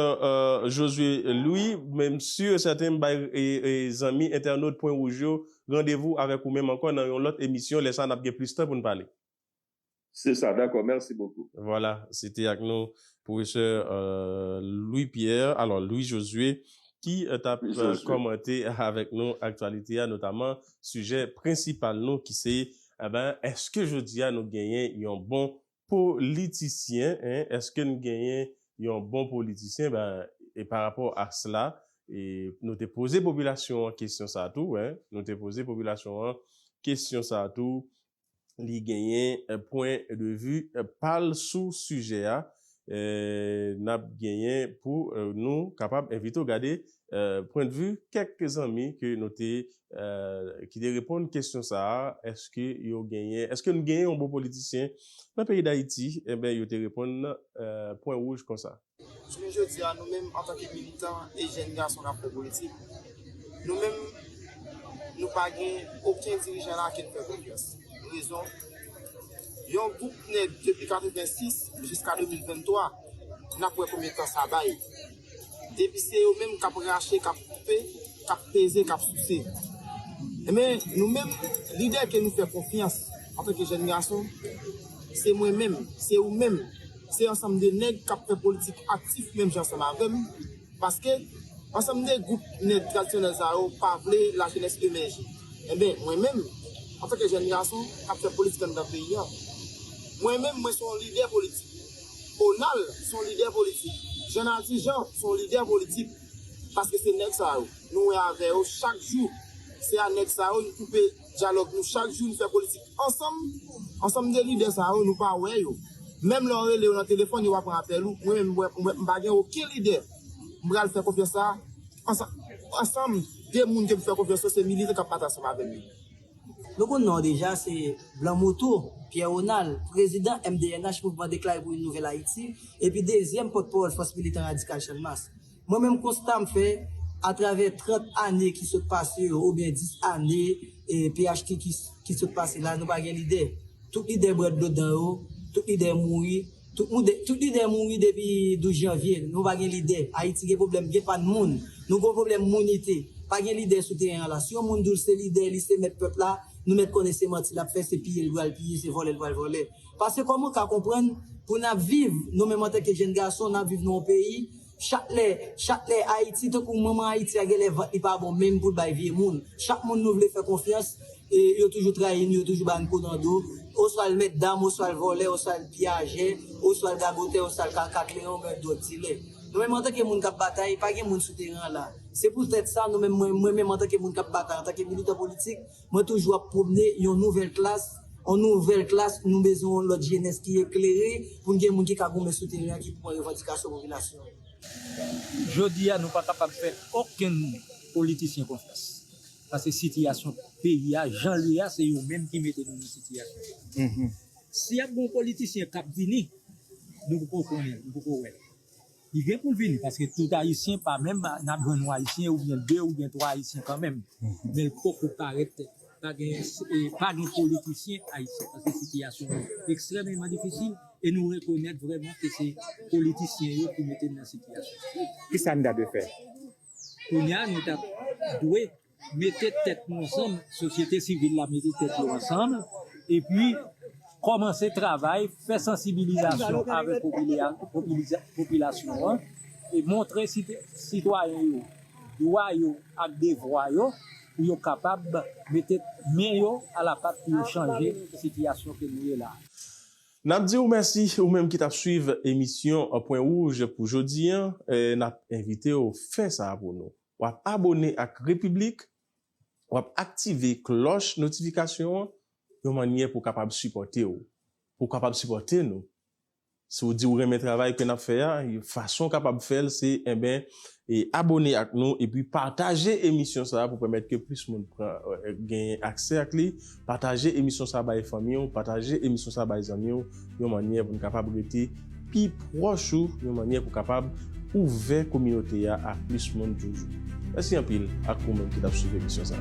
Josué Louis. M si e sèten m bay zanmi entènot pwen wouj yo randevou avèk ou menm ankò nan yon lòt emisyon, lè sa a n ap gen plis tan pou n pale. Se sa, dakò. Mèsi bokou. Vwala, se te ak nou pwofesè Louis Pierre, alò Louis Josué, ki t ap kòmante avèk nou aktyalite a, notaman sijè prensipal nou ki se Enben, èske jodi a nou genyen yon bon politisyen? Èske n genyen yon bon politisyen? Enben, e pa rapò a sla, e nou te poze popilasyon an kesyon sa a tou, nou te poze popilasyon an kesyon sa a tou, li genyen pwen de vi pa l sou sijè a, n ap genyen pou nou kapab envite w gade pwendvi kèk zanmi ke nou te ki te reponn kesyon sa a, èske yo genyen èske nou genyen yon bon politisyen nan peyi Dayiti? Enben yo te reponn pwen wouj konsa. Jounen jodi a nou menm antanke militan e jèn gason k ap fè politik, nou menm nou pa gen oken dirijan la ke n fè konfyans. Rezon? Yon gwoup nèg depi 86 jiska 2023 nap wè konbyen tan sa bay. Depi se yo menm kap rache, kap koupe, kap peze, kap souse. Enben nou menm lidè ke nou fè konfyans antanke jèn gason, se mwen menm, se ou menm, se ansanm de nèg kap fè politik aktif menm jan ansanm avèm, Paske, ansanm de gwoup nèg tradisyonèl sa yo pa vle lajenès emèje. Enben, mwen menm, antanke jèn gason k ap fè politik anndan peyi an, mwen menm mwen se yon lidè politik. Onal se yon lidè politik. Jannadi Jan se yon lidè politik. Paske se nèg sa yo, nou wè avè yo chak jou, se a nèg sa yo n koupe. Dyalòg nou chak jou nou fè politik ansanm ansanm 2 lidè sa yo nou pa wè yo menm lè w rele yo nan telefòn yo pa pran apèl ou mwen menm m pa gen oken lidè m pral fè konfyans sa ansanm 2 moun ke m fè konfyans yo se militan kap batay ansanm avèm yo. Nou konn non w deja se blan moutou Pierre Ronald prezidan MDNH mouvman deklare pou yn nouvèl Ayiti epi dezyèm pòtpawòl fòs militan radikal Channmas. Mwen menm konsta m fè atravè 30 ane ki sot pase yo oubyen 10 ane phtk ki sot pase la nou pa gen lidè. Tout lidè bwè dlo dan yo, tout lidè mouri, tout lidè mouri depi 12 janvye, nou pa gen lidè. Ayiti gen pwoblèm gen pa n moun, nou gen pwoblèm mounite. Pa gen lidè sou teren an la. Si yon moun di w se lidè li, se mèt pèp la, nou mèt konnen se manti l ap fè, se piye l pral piye, se vòlè l pral vòlè. Paske kòman w ka konprann pou n ap viv, nou menm antanke jenn gason, n ap viv nan yon peyi, chak lè, chak lè Ayiti, tankou manman Ayiti a genlè vant li pa bon menm pou l bay vye moun. Chak moun nou vle fè konfyans, yo toujou trayi n, yo toujou ba n kou nan do, oswa l mèt dam, oswa l vòlè, oswa l piyajè, oswa l gagotè, oswa l kaka, kleyon ou menm dwòg dilè. Nou menm antanke moun k ap batay, pa gen moun sou teren an la. Se poutèt sa nou menm, mwen menm antanke moun k ap batay, antanke militan politik, Mwen toujou ap pwomne yon nouvèl klas, yon nouvèl klas, nou bezwen yon lòt jenès ki eklere pou n gen moun ki ka goumen sou teren an ki pran revandikasyon popilasyon an. Jodi a nou pa kapab fè okenn politisyen konfyans paske sitiyasyon peyi a jan l ye a se yo menm ki mete nou nan sitiyasyon sa a. Si ap gen yon politisyen k ap vini nou poko konnen l, nou poko wè l. Li gen poul vini paske tout ayisyen pa menm nap jwenn yon ayisyen oubyen 2 oubyen 3 ayisyen kanmenm menl poko parèt pa gen pa gen politisyen ayisyen paske sitiyasyon an ekstrèmeman difisil e nou rekonèt vrèman ke se politisyen yo ki mete n nan sitiyasyon sa. Kisa n ta dwe fè? Kounya nou tap dwe. Mete tèt nou ansanm, sosyete sivil la mete tèt yo ansanm epi kòmanse travay fè sansibilizasyon avèk popilasyon an e montre sitwayen yo dwa yo ak devwa yo pou yo kapab mete men yo alapat pou yo chanje sitiyasyon ke nou ye la. N ap di ou mèsi ou menm ki t ap swiv emisyon Pwen Wouj pou jodi an. N ap envite ou fè sa pou nou. Wap abone ak Repiblik, wap aktive klòch notifikasyon an yon mannyè pou kapab sipòte w, pou w kapab sipòte nou. Si w di w renmen travay ke nap fè a, yon fason w kapab fè l se enben e abone ak nou epi pataje emisyon sa pou pèmèt ke plis moun pran genyen aksè ak li Pataje emisyon sa bay fanmi w, pataje emisyon sa bay zanmi w yon mannyè pou n kapab rete pi pwòch ou, yon mannyè pou kapab ouvè kominote a a plis moun toujou. Mèsi anpil ak ou menm ki t ap swiv emisyon sa.